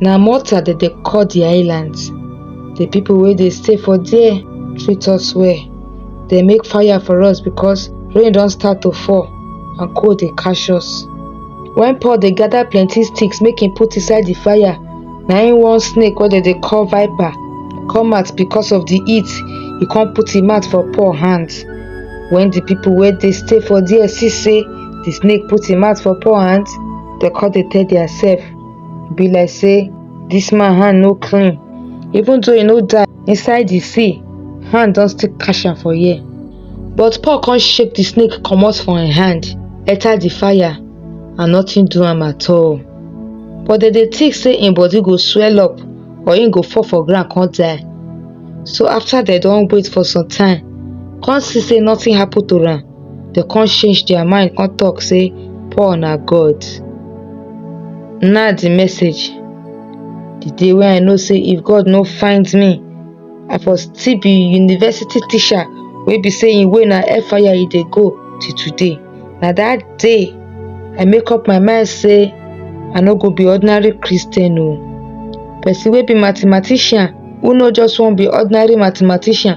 na malta dem dey call di island di pipo wey dey stay for there treat us well dem make fire for us because rain don start to fall and cold dey catch us wen paul dey gather plenty sticks make him put inside di fire na him one snake wey dem dey call viper come out because of di heat e come put him mouth for paul hand wen di pipo wey dey stay for there see say di snake put him mouth for paul hand dem come dey tell their self e be like say this man hand no clean even though he no die inside the sea hand don still catch am for here but paul come shake the snake comot from him hand enter the fire and nothing do am at all but dem dey think say him body go swell up or him go fall for ground come die so after dem don wait for some time come see say nothing happen to am dem come change their mind come talk say Paul na God. Na the message. The day wey I know say if God no find me, I for still be university teacher wey be say im way na fire e dey go till today. Na that day I make up my mind say I no go be ordinary Christian o. Person wey be mathematician who no just wan be ordinary mathematician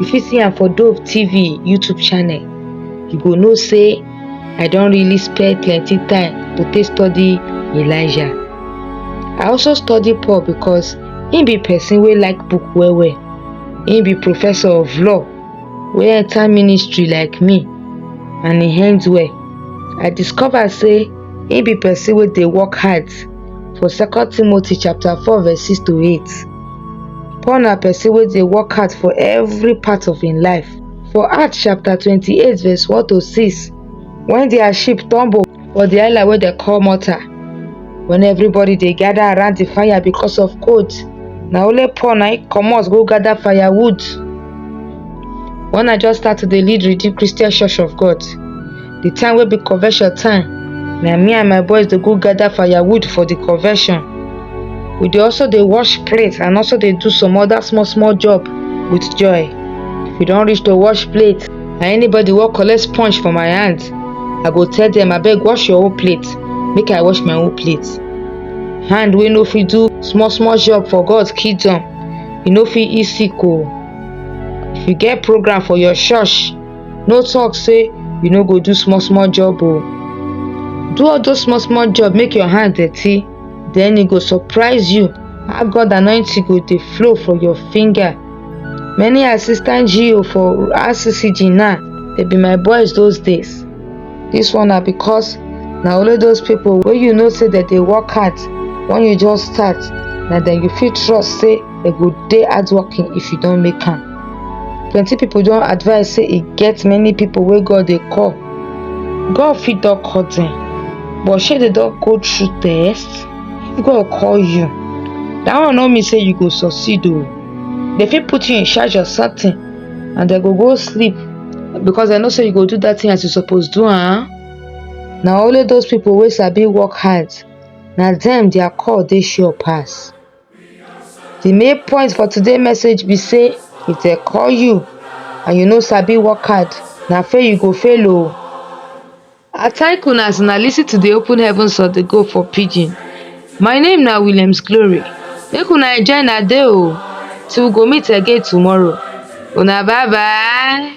you fit see am for dove tv youtube channel you go know say i don really spend plenty time to take study elijah i also study paul because im be person wey like book well well im be professor of law wey enter ministry like me and e end well i discover say im be person wey dey work hard for second timothy chapter four verse six to eight Paul na person wey dey work hard for every part of im life. For Acts chapter twenty-eight verse one to six, when their ship tumble for the island wey dem call Malta, when everybody dey gather around the fire because of cold, na only Paul na im comot go gather firewood. When I just start to dey lead Redeemed Christian Church of God, the time wey be convention time na me and my boys dey go gather firewood for the convention we dey also dey wash plate and also dey do some other small small job with joy if we don reach to wash plate and anybody wey collect sponge for my hand i go tell them abeg wash your own plate make i wash my own plate hand wey no fit do small small job for god kingdom e no fit eat sick o if you get program for your church no talk say you no go do small small job o do all those small small job make your hand dirty then e go surprise you how god anointing go dey flow for your finger many assistant geo for rccg now dey be my boys those days this one na because na only those people wey you know say dem dey work hard when you just start na dem you fit trust say dem go dey hardworking if you don make am plenty people don advise say e get many people wey God dey call. God fit don call them, but shey they don go through test? If God call you, that one no mean say you go succeed o. Oh. They fit put you in charge of something and they go go sleep because they know say you go do that thing as you suppose do am. Huh? Na only those people wey sabi work hard na them their call dey sure pass. The main point for today message be say if dem call you and you no sabi work hard, na fail you go fail oh. I thank una as una listen to the open heavens of the go for pidgin. My name na Williams Glory. Make una enjoy na day oh till we go meet again tomorrow. Una bye bye.